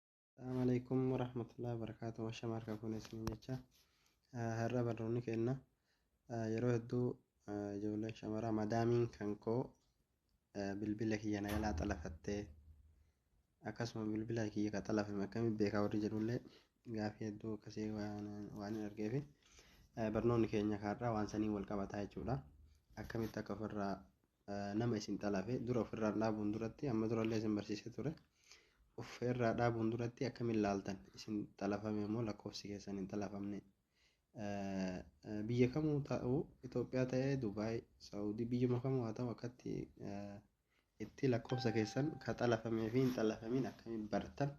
Assalamu alaikum warahmatullahi wabarakatuh. Ashama harka fuune isiniin jecha. Ah, Har'a barnoonni kenna. Ah, Yeroo hedduu ah, ijoolleen shamaraa madaamiin kan koo ah, bilbila kiyya na jalaa xalafattee akkasuma bilbila kiyya ka xalafame akkamiin beekaa warri jedhullee gaafii hedduu akkasii waan waan hin argeefi. Ah, Barnoonni keenya har'a waan saniin wal qabataa jechuudha. Akkamitti akka ofirraa nama isin xalafe dura ofirraan dhaabuun duratti amma durallee isin barsiisee ture ofirraa dhaabuun duratti akkamiin laaltan isin xalafame immoo lakkoofsi keessan hin xalafamne biyya kamuu ta'u Itoophiyaa ta'ee Dubaay Saawudii biyyuma kamuu haa ta'u akkatti itti lakkoofsa keessan ka xalafamee fi hin xalafamiin akkamiin bartan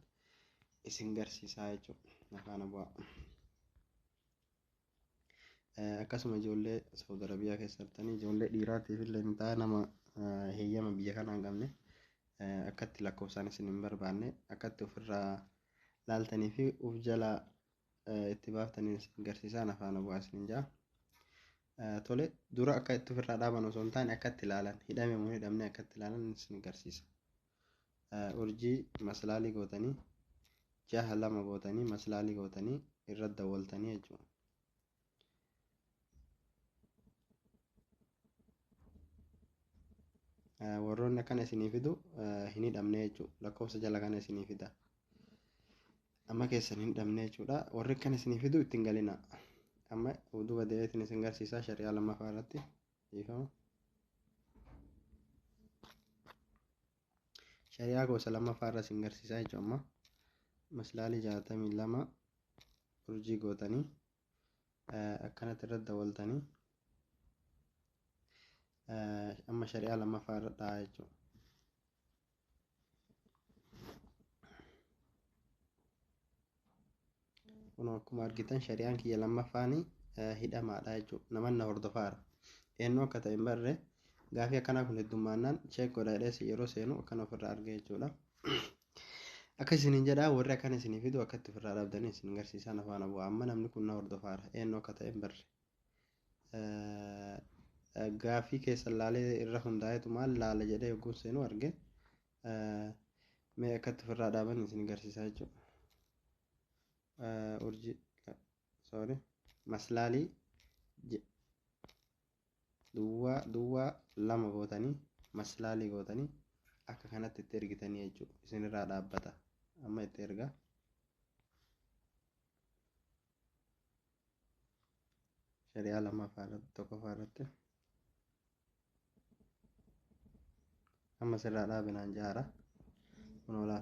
isin garsiisaa jechuudha. Nafaana bu'aa. Akkasuma ijoollee Saudi Arabiyaa keessa jirtanii ijoollee dhiiraatiif illee ni ta'a nama heeyyama biyya kanaa hin qabne akkatti lakkoofsaan isin hin barbaanne akkatti ofirraa laaltanii fi of jalaa itti baaftanii isin garsiisaan afaan bu'aa isin jaa. Tole dura akka itti ofirraa dhaaban osoo hin taane akkatti ilaalan hidhame moo hidhamne akkatti ilaalan isin garsiisa. urjii maslaali gootanii jaha lama gootanii maslaali gootanii irra dawwaltanii jechuudha. warroonni akkana isinii fidu hin hidhamne jechuudha lakkoofsa jala kana isinii fida amma keessan hin hidhamne jechuudha warri akkana isinii fidu ittiin galina amma duuba deebiitiin isin garsiisaa shari'aa lammaffaa irratti Dhiifama. Shari'aa gosa lammaffaa irra isin garsiisaa jechuun amma maslaalii jaatamii lama urjii gootanii akkanatti irra dawaltanii amma shari'aa lammaffaa irra dhahaa jechuudha. kun akkuma argitan shari'aan kiyya lammaffaan hidhamaadha jechuudha naman na hordofaara eenyu akka ta'e hin barre gaafii akkanaa kun heddummaannaan cheek godha jedhee yeroo seenu akkan ofirraa arge jechuudha akka isiniin jedha warri akkan isinii fidu akkatti ofirraa dhabdanii isin garsiisaan afaan abu amma namni kun na hordofaara eenyu akka ta'e hin barre gaaffii keessan laalee irra hundaa'etu maal laala jedhee yogguun seenuu arge mee akkatti ofirraa dhaaban isin garsiisaa jechuudha. Urjii sorry maslaalii duwwaa duwwaa lama gootanii maslaalii gootanii akka kanatti itti ergitanii jechuudha isinirraa dhaabbata amma itti ergaa. shari'aa lammaffaa irratti tokkoffaa irratti amma sirraa dhaabinaan jaara kun olaa